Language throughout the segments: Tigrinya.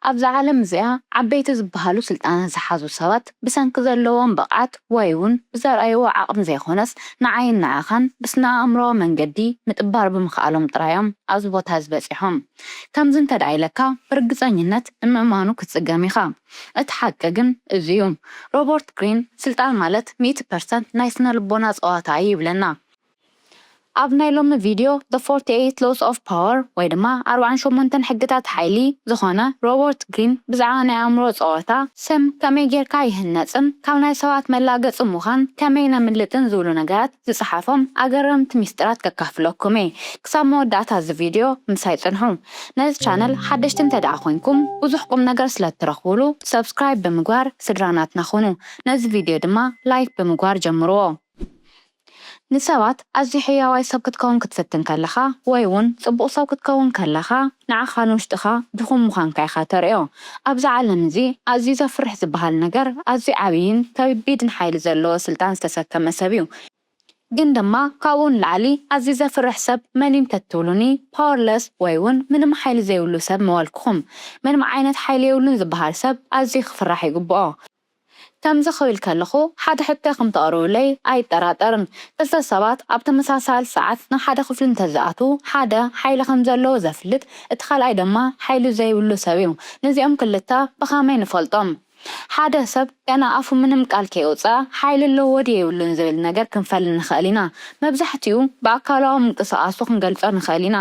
ኣብዛ ዓለም እዚኣ ዓበይቲ ዝበሃሉ ስልጣን ዝሓዙ ሰባት ብሰንኪ ዘለዎም ብቕዓት ወይውን ብዘርኣይዎ ዓቕሚ ዘይኮነስ ንዓይን ንዓኻን ብስነኣእምሮኣዊ መንገዲ ምጥባር ብምኽኣሎም ጥራይዮም ኣብዚ ቦታ እዚ በጺሖም ከምዚ እንተድኣ ኢለካ ብርግጸኝነት ንምእማኑ ክትጽገም ኢኻ እቲ ሓቂ ግን እዚዩ ሮቦርት ግሪን ስልጣን ማለት ሚእቲ ፐርሰንት ናይ ስነልቦና ጸዋታ እዩ ይብለና ኣብ ናይ ሎሚ ቪድዮ The Forty Eight Laws of Power ወይ ድማ ኣርብዓን ሸሞንተን ሕግታት ሓይሊ ዝኾነ ሮቦርት ግሪን ብዛዕባ ናይ ኣእምሮ ጸወታ፣ ስም ከመይ ጌርካ ይህነጽን ካብ ናይ ሰባት መላገጺ ምዃን ከመይ ነምልጥን ዝብሉ ነገራት ዝጸሓፎም ኣገረምቲ ሚስጢራት ከካፍለኩም እየ። ክሳብ መወዳእታ እዚ ቪድዮ ምሳይ ጽንሑ። ነዚ ቻነል ሓደሽቲ እንተድኣ ኮይንኩም ብዙሕ ቁምነገር ስለ እትረኽቡሉ Subscribe ብምግባር ስድራ ናትና ኩኑ። ነዚ ቪድዮ ድማ Like ብምግባር ጀምርዎ። ንሰባት ኣዝዩ ሕያዋይ ሰብ ክትከውን ክትፍትን ከለኻ ወይ'ውን ጽቡቕ ሰብ ክትከውን ከለኻ ንዓኻ ንውሽጥኻ ድኹም ምዃንካ ኢኻ ተርእዮ። ኣብዚ ዓለም እዚ ኣዝዩ ዘፍርሕ ዝበሃል ነገር ኣዝዩ ዓብይን ከቢድን ሓይሊ ዘለዎ ስልጣን ዝተሰከመ ሰብ'ዩ። ግን ድማ ካብኡ ንላዕሊ ኣዝዩ ዘፍርሕ ሰብ መን'ዩ እንተትብሉኒ Powerless ወይ'ውን ምንም ሓይሊ ዘይብሉ ሰብ ምበልኩኹም። ምንም ዓይነት ሓይሊ የብሉን ዝበሃል ሰብ ኣዝዩ ክፍራሕ ይግብኦ። ከምዚ ክብል ከለኹ ሓደ ሕቶ ከም ተቕርቡለይ ኣይጠራጠርን። ክልተ ሰባት ኣብ ተመሳሳሊ ሰዓት ናብ ሓደ ክፍሊ እንተ ዝኣትዉ፣ ሓደ ሓይሊ ከም ዘለዎ ዘፍልጥ፣ እቲ ካልኣይ ድማ ሓይሊ ዘይብሉ ሰብ እዩ። ነዚኦም ክልተ ብኸመይ ንፈልጦም? ሓደ ሰብ ገና ኣፉ ምንም ቃል ከየውጽኣ ሓይሊ ኣለዎ ድዩ የብሉን ዝብል ነገር ክንፈሊ ንኽእል ኢና። መብዛሕትኡ ብኣካላዊ ምንቅስቓሱ ክንገልጾ ንኽእል ኢና።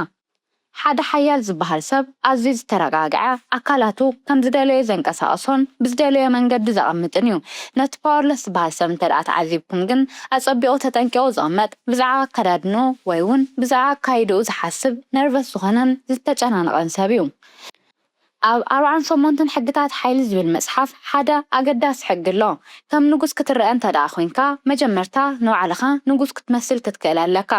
ሓደ ሓያል ዝበሃል ሰብ ኣዝዩ ዝተረጋግዐ፣ ኣካላቱ ከም ዝደለዮ ዘንቀሳቕሶን ብዝደለዮ መንገዲ ዘቐምጥን እዩ። ነቲ ፓወርለስ ዝበሃል ሰብ እንተድኣ ተዓዚብኩም ግን፣ ኣጸቢቑ ተጠንቂቑ ዝቕመጥ፣ ብዛዕባ ኣከዳድንኡ ወይ'ውን ብዛዕባ ኣካይዳኡ ዝሓስብ፣ ነርቨስ ዝኾነን ዝተጨናነቐን ሰብ እዩ። ኣብ ኣርብዓን ሸሞንትን ሕግታት ሓይሊ ዝብል መጽሓፍ ሓደ ኣገዳሲ ሕጊ ኣሎ። ከም ንጉስ ክትረኣ እንተድኣ ኮንካ መጀመርታ ንባዕልኻ ንጉስ ክትመስል ክትክእል ኣለካ።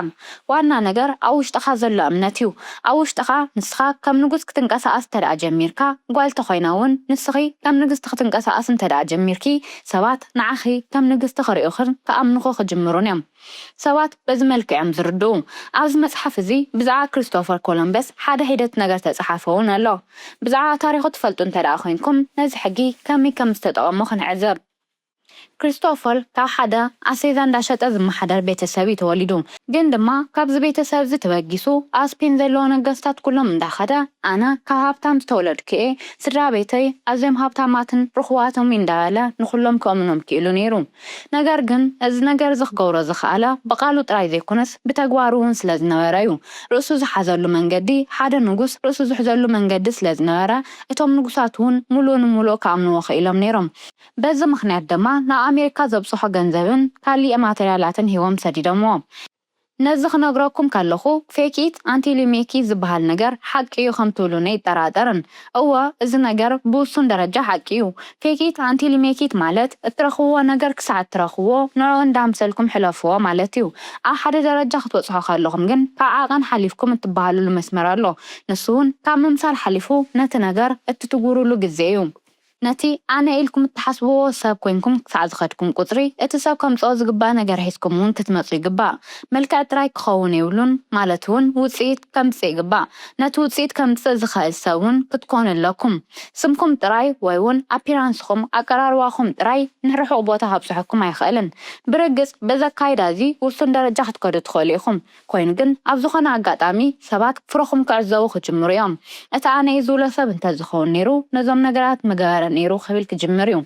ዋና ነገር ኣብ ውሽጥኻ ዘሎ እምነት እዩ። ኣብ ውሽጥኻ ንስኻ ከም ንጉስ ክትንቀሳቐስ እንተድኣ ጀሚርካ ጓል ተኾይና ውን ንስኺ ከም ንግስቲ ክትንቀሳቐሲ እንተድኣ ጀሚርኪ ሰባት ንዓኺ ከም ንግስቲ ክርእዩኽን ክኣምኑኺ ክጅምሩን እዮም። ሰባት በዚ መልክዕ እዮም ዝርድኡ። ኣብዚ መጽሓፍ እዚ ብዛዕባ ክሪስቶፈር ኮሎምበስ ሓደ ሒደት ነገር እተጸሓፈ እውን ኣሎ። ብዛዕባ ታሪኹ ትፈልጡ እንተ ደኣ ዄንኩም ነዚ ሕጊ ከመይ ከም ዝተጠቐሞ ክንዕዘብ። ክሪስቶፈር ካብ ሓደ ኣስቤዛ እንዳ ሸጠ ዝመሓደር ቤተ ሰብ እዩ ተወሊዱ። ግን ድማ ካብዚ ቤተ ሰብ እዚ ተበጊሱ ኣብ ስፔን ዘለዉ ነገስታት ኩሎም እንዳ ከደ ኣነ ካብ ሃብታም ዝተወለድኩ እየ፣ ስድራ ቤተይ ኣዝዮም ሃብታማትን ርኹባትን'ዮም እንዳ በለ ንኹሎም ከእምኖም ክኢሉ ነይሩ። ነገር ግን እዚ ነገር እዚ ክገብሮ ዝኸኣለ ብቓሉ ጥራይ ዘይኮነስ ብተግባሩ እውን ስለ ዝነበረ እዩ። ርእሱ ዝሓዘሉ መንገዲ፣ ሓደ ንጉስ ርእሱ ዝሕዘሉ መንገዲ ስለ ዝነበረ፣ እቶም ንጉሳት እውን ምሉእ ንምሉእ ክኣምንዎ ክኢሎም ነይሮም። በዚ ምኽንያት ድማ ንኣመሪካ ዘብጽሖ ገንዘብን ካልእ ማተርያላትን ሂቦም ሰዲዶምዎ። ነዚ ክነግረኩም ከለኹ ፌክ ኢት ኣንቲል ዩ ሜክ ኢት ዝበሃል ነገር ሓቂ ዩ ከምትብሉኒ ኣይጠራጠርን። እወ እዚ ነገር ብውሱን ደረጃ ሓቂ ዩ። ፌክ ኢት ኣንቲል ዩ ሜክ ኢት ማለት እትረኽብዎ ነገር ክሳዕ እትረኽብዎ ንዕኡ እንዳኣምሰልኩም ሕለፍዎ ማለት ዩ። ኣብ ሓደ ደረጃ ክትበጽሑ ከለኹም ግን ካብ ዓቐን ሓሊፍኩም እትበሃሉሉ መስመር ኣሎ። ንሱ ውን ካብ ምምሳል ሓሊፉ ነቲ ነገር እትትግብሩሉ ግዜ ዩ። ነቲ ኣነ ኢልኩም እትሓስብዎ ሰብ ኮይንኩም ክሳዕ ዝኸድኩም ቁጽሪ፣ እቲ ሰብ ከምጽኦ ዝግባእ ነገር ሒዝኩም እውን ክትመጹ ይግባእ። መልክዕ ጥራይ ክኸውን የብሉን፣ ማለት እውን ውጽኢት ከምጽእ ይግባእ። ነቲ ውጽኢት ከምጽእ ዝኸእል ሰብ እውን ክትኮኑ ኣለኩም። ስምኩም ጥራይ ወይ እውን ኣፒራንስኹም፣ ኣቀራርባኹም፣ ጥራይ ንርሑቕ ቦታ ከብጽሑኩም ኣይኸእልን። ብርግጽ በዚ ኣካይዳ እዚ ውሱን ደረጃ ክትከዱ ትኸእሉ ኢኹም። ኮይኑ ግን ኣብ ዝኾነ ኣጋጣሚ ሰባት ፍረኹም ክዕዘቡ ክጅምሩ እዮም። እቲ ኣነ እየ ዝብሎ ሰብ እንተዝኸውን ነይሩ ነዞም ነገራት ምገበረ ነይሩ ክብል ክጅምር እዩ።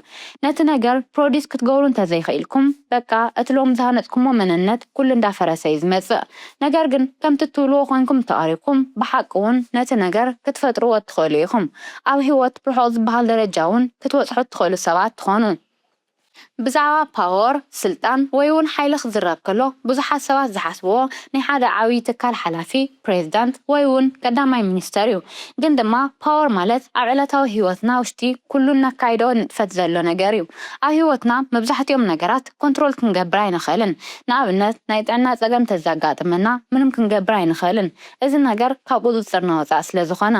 ነቲ ነገር ፕሮዲስ ክትገብሩ እንተዘይኽኢልኩም በቃ እቲ ሎሚ ዝሃነፅኩሞ መንነት ኩሉ እንዳፈረሰ እዩ ዝመፅእ። ነገር ግን ከምቲ እትብልዎ ኮይንኩም እንተቐሪብኩም ብሓቂ እውን ነቲ ነገር ክትፈጥርዎ እትኽእሉ ኢኹም። ኣብ ህይወት ርሑቕ ዝበሃል ደረጃ እውን ክትበፅሑ እትኽእሉ ሰባት ትኾኑ። ብዛዕባ ፓወር፣ ስልጣን፣ ወይ'ውን ሓይሊ ክዝረብ ከሎ ብዙሓት ሰባት ዝሓስብዎ ናይ ሓደ ዓብይ ትካል ሓላፊ፣ ፕሬዝዳንት፣ ወይ'ውን ቀዳማይ ሚኒስተር እዩ። ግን ድማ ፓወር ማለት ኣብ ዕለታዊ ህይወትና ውሽጢ ኩሉ እነካይዶ ንጥፈት ዘሎ ነገር እዩ። ኣብ ህይወትና መብዛሕቲኦም ነገራት ኮንትሮል ክንገብር ኣይንኽእልን። ንኣብነት ናይ ጥዕና ፀገም እንተዘጋጥመና ምንም ክንገብር ኣይንኽእልን እዚ ነገር ካብ ቁፅፅርና ወፃኢ ስለዝኾነ።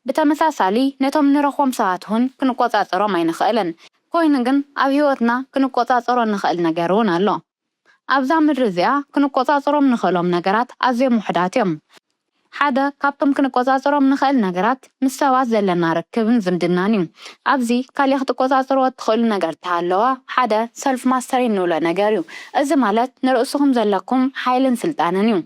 ብተመሳሳሊ ነቶም ንረኽቦም ሰባት'ውን ክንቆፃፀሮም ኣይንኽእልን። ኰይኑ ግን፣ ኣብ ህይወትና ክንቈጻጸሮ እንኽእል ነገር እውን ኣሎ። ኣብዛ ምድሪ እዚኣ ክንቈጻጸሮም እንኽእሎም ነገራት ኣዝዮም ውሑዳት እዮም። ሓደ ካብቶም ክንቈጻጸሮም እንኽእል ነገራት ምስ ሰባት ዘለና ርክብን ዝምድናን እዩ። ኣብዚ ካልእ ክትቈጻጸርዎ እትኽእሉ ነገር እንተሃለወ ሓደ ሰልፍ-ማስተሪ እንብሎ ነገር እዩ። እዚ ማለት ንርእስኹም ዘለኩም ሓይልን ስልጣንን እዩ።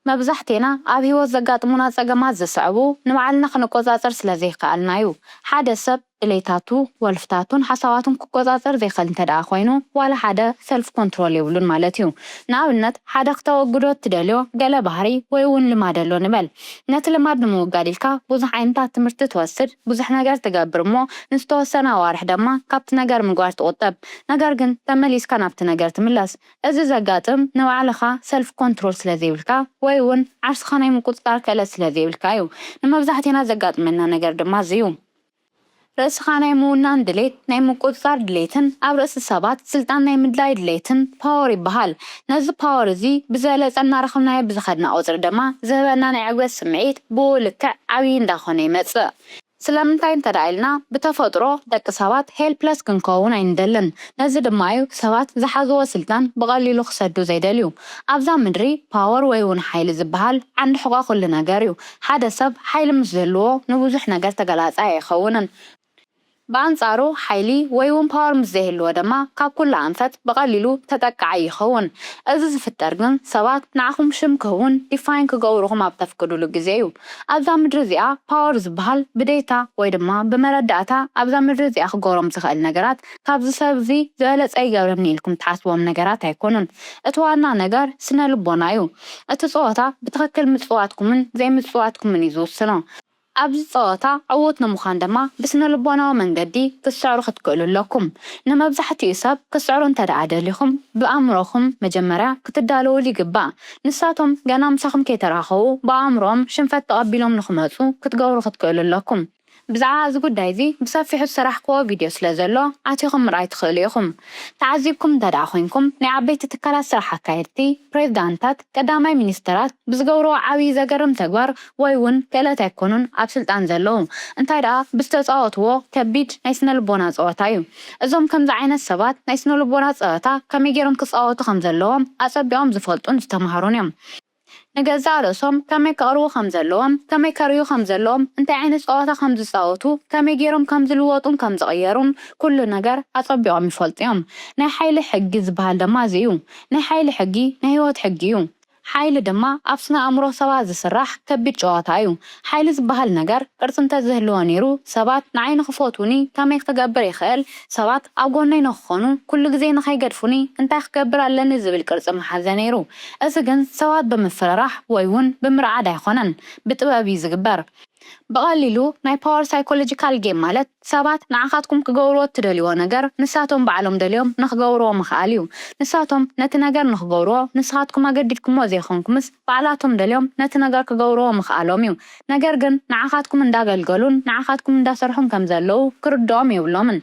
መብዛሕቴና ኣብ ህይወት ዘጋጥሙና ጸገማት ዝስዕቡ ንባዕልና ክንቆጻጸር ስለ ዘይከኣልና እዩ። ሓደ ሰብ ድሌታቱ፣ ወልፍታቱን ሓሳባቱን ክቆጻጸር ዘይክእል እንተደኣ ኮይኑ ዋላ ሓደ ሰልፍ ኮንትሮል የብሉን ማለት እዩ። ንኣብነት ሓደ ክተወግዶ እትደልዮ ገለ ባህሪ ወይ እውን ልማድ ኣሎ ንበል። ነቲ ልማድ ንምውጋድ ኢልካ ብዙሕ ዓይነታት ትምህርቲ ትወስድ፣ ብዙሕ ነገር ትገብር እሞ ንዝተወሰነ ኣዋርሕ ደማ ካብቲ ነገር ምግባር ትቑጠብ። ነገር ግን ተመሊስካ ናብቲ ነገር ትምለስ። እዚ ዘጋጥም ንባዕልኻ ሰልፍ ኮንትሮል ስለ ዘይብልካ ወይ ውን ዓርስኻ ናይ ምቁጽጻር ክእለት ስለ ዘይብልካ እዩ። ንመብዛሕቴና ዘጋጥመና ነገር ድማ እዚ እዩ። ርእስኻ ናይ ምውናን ድሌት፣ ናይ ምቁጽጻር ድሌትን ኣብ ርእሲ ሰባት ስልጣን ናይ ምድላይ ድሌትን ፓወር ይበሃል። ነዚ ፓወር እዚ ብዝበለጸ እናረኸብናዮ ብዝኸድና ቁጽሪ ድማ ዝህበና ናይ ዕግበት ስምዒት ብኡ ልክዕ ዓብይ እንዳኾነ ይመጽእ። ስለምንታይ እንተድኣ ኢልና ብተፈጥሮ ደቂ ሰባት ሄልፕለስ ክንከውን ኣይንደልን ነዚ ድማ እዩ ሰባት ዝሓዝዎ ስልጣን ብቐሊሉ ክሰዱ ዘይደልዩ ኣብዛ ምድሪ ፓወር ወይ ውን ሓይሊ ዝብሃል ዓንዲ ሕቖ ኩሉ ነገር እዩ ሓደ ሰብ ሓይሊ ምስ ዝህልዎ ንብዙሕ ነገር ተገላጻይ ኣይኸውንን ብኣንጻሩ ሓይሊ ወይ ውን ፓወር ምስ ዘይህልዎ ድማ ካብ ኩሉ ኣንፈት ብቐሊሉ ተጠቃዓይ ይኸውን እዚ ዝፍጠር ግን ሰባት ንዓኹም ሽም ክህቡን ዲፋይን ክገብሩኹም ኣብ ተፍቅዱሉ ግዜ እዩ። ኣብዛ ምድሪ እዚኣ ፓወር ዝብሃል ብዴታ ወይ ድማ ብመረዳእታ ኣብዛ ምድሪ እዚኣ ክገብሮም ዝኽእል ነገራት ካብዚ ሰብ እዚ ዝበለፀ ይገብረኒ ኢልኩም ትሓስብዎም ነገራት ኣይኮኑን እቲ ዋና ነገር ስነልቦና እዩ እቲ ፀወታ ብትኽክል ምፅዋትኩምን ዘይምፅዋትኩምን እዩ ዝውስኖ ኣብዚ ፀወታ ዕዉት ንምዃን ድማ ብስነልቦናዊ መንገዲ ክትስዕሩ ክትክእሉ ኣለኩም ንመብዛሕቲኡ ሰብ ክትስዕሩ እንተድኣ ደሊኹም ብኣእምሮኹም መጀመርያ ክትዳለውሉ ይግባእ ንሳቶም ገና ምሳኹም ከይተራኸቡ ብኣእምሮኦም ሽንፈት ተቐቢሎም ንኽመጹ ክትገብሩ ክትክእሉ ኣለኩም። ብዛዕባ እዚ ጉዳይ እዚ ብሰፊሑ ዝሰራሕኩዎ ቪድዮ ስለ ዘሎ ኣቲኹም ምርኣይ ትኽእሉ ኢኹም። ተዓዚብኩም እንተድኣ ኮይንኩም ናይ ዓበይቲ ትካላት ስራሕ ኣካየድቲ፣ ፕሬዝዳንትታት፣ ቀዳማይ ሚኒስተራት፣ ብዝገብርዎ ዓብዪ ዘገርም ተግባር ወይ ውን ክእለት ኣይኮኑን ኣብ ስልጣን ዘለዉ እንታይ ድኣ ብዝተጻወትዎ ከቢድ ናይ ስነልቦና ጸወታ እዩ። እዞም ከምዚ ዓይነት ሰባት ናይ ስነልቦና ጸወታ ከመይ ጌሮም ክጻወቱ ከም ዘለዎም ኣጸቢቖም ዝፈልጡን ዝተማህሩን እዮም። ንገዛእ ርእሶም ከመይ ከቕርቡ ከም ዘለዎም፣ ከመይ ከርእዩ ከም ዘለዎም፣ እንታይ ዓይነት ጸወታ ከም ዝጻወቱ፣ ከመይ ጌሮም ከም ዝልወጡን ከም ዝቕየሩን ኩሉ ነገር ኣጸቢቖም ይፈልጡ እዮም። ናይ ሓይሊ ሕጊ ዝበሃል ደማ እዚ እዩ። ናይ ሓይሊ ሕጊ ናይ ህይወት ሕጊ እዩ። ሓይሊ ድማ ኣብ ስነ ኣእምሮ ሰባት ዝስራሕ ከቢድ ጨዋታ እዩ። ሓይሊ ዝበሃል ነገር ቅርጺ እንተዝህልዎ ነይሩ ሰባት ንዓይ ንኽፈትዉኒ ከመይ ክገብር ይኽእል፣ ሰባት ኣብ ጎነይ ንኽኾኑ፣ ኩሉ ግዜ ንኸይገድፉኒ እንታይ ክገብር ኣለኒ ዝብል ቅርጺ ምሓዘ ነይሩ። እዚ ግን ሰባት ብምፍርራሕ ወይ'ውን ብምርዓድ ኣይኮነን። ብጥበብ እዩ ዝግበር። ብቐሊሉ ናይ ፓወር ሳይኮሎጂካል ጌም ማለት ሰባት ንዓኻትኩም ክገብርዎ እትደልይዎ ነገር ንሳቶም ባዕሎም ደልዮም ንኽገብርዎ ምኽኣል እዩ። ንሳቶም ነቲ ነገር ንኽገብርዎ ንስኻትኩም ኣገዲድኩምዎ ዘይኮንኩምስ ባዕላቶም ደልዮም ነቲ ነገር ክገብርዎ ምኽኣሎም እዩ። ነገር ግን ንዓኻትኩም እንዳገልገሉን ንዓኻትኩም እንዳሰርሑን ከምዘለዉ ክርድኦም የብሎምን።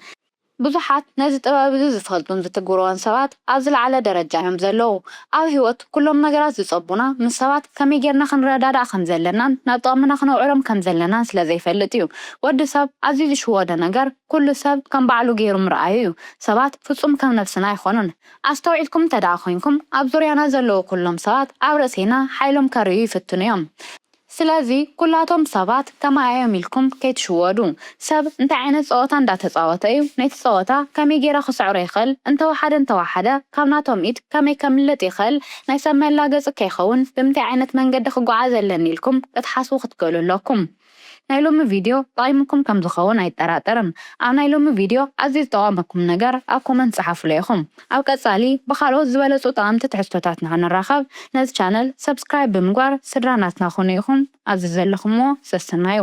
ብዙሓት ነዚ ጥበብ እዚ ዝፈልጡን ዝትግብርዎን ሰባት ኣብ ዝለዓለ ደረጃ እዮም ዘለዉ። ኣብ ህይወት ኩሎም ነገራት ዝጸቡና ምስ ሰባት ከመይ ጌርና ክንረዳዳእ ከም ዘለናን ናብ ጥቕምና ክነውዕሎም ከም ዘለናን ስለ ዘይፈልጥ እዩ። ወዲ ሰብ ኣዝዩ ዝሽወዶ ነገር ኩሉ ሰብ ከም ባዕሉ ጌሩ ምርኣዩ እዩ። ሰባት ፍጹም ከም ነብስና ኣይኮኑን። ኣስተውዒልኩም እንተድኣ ኮይንኩም ኣብ ዙርያና ዘለዉ ኩሎም ሰባት ኣብ ርእሴና ሓይሎም ከርእዩ ይፍትኑ እዮም። ስለዚ ኩላቶም ሰባት ከማይ ኣዮም ኢልኩም ከይትሽወዱ። ሰብ እንታይ ዓይነት ጸወታ እንዳ ተጻወተ እዩ ነቲ ጸወታ ከመይ ጌረ ክስዕሮ ይኽእል እንተ ወሓደ እንተ ወሓደ ካብ ናቶም ኢድ ከመይ ከምልጥ ይኽእል ናይ ሰብ መላገጺ ከይኸውን ብምንታይ ዓይነት መንገዲ ክጎዓዝ ኣለኒ ኢልኩም ክትሓስቡ ክትክእሉ ኣለኩም። ናይ ሎሚ ቪድዮ ጠቒሙኩም ከም ዝኸውን ኣይጠራጠርን። ኣብ ናይ ሎሚ ቪድዮ ኣዝዩ ዝጠቐመኩም ነገር ኣብ ኮመንት ጸሓፉለይ ኢኹም። ኣብ ቀጻሊ ብካልኦት ዝበለጹ ጠቐምቲ ትሕዝቶታት ንኽንራኸብ ነዚ ቻነል subscribe ብምግባር ስድራ ናትና ኩኑ ኢኹም ኣብዚ ዘለኹምዎ ሰሰናዩ።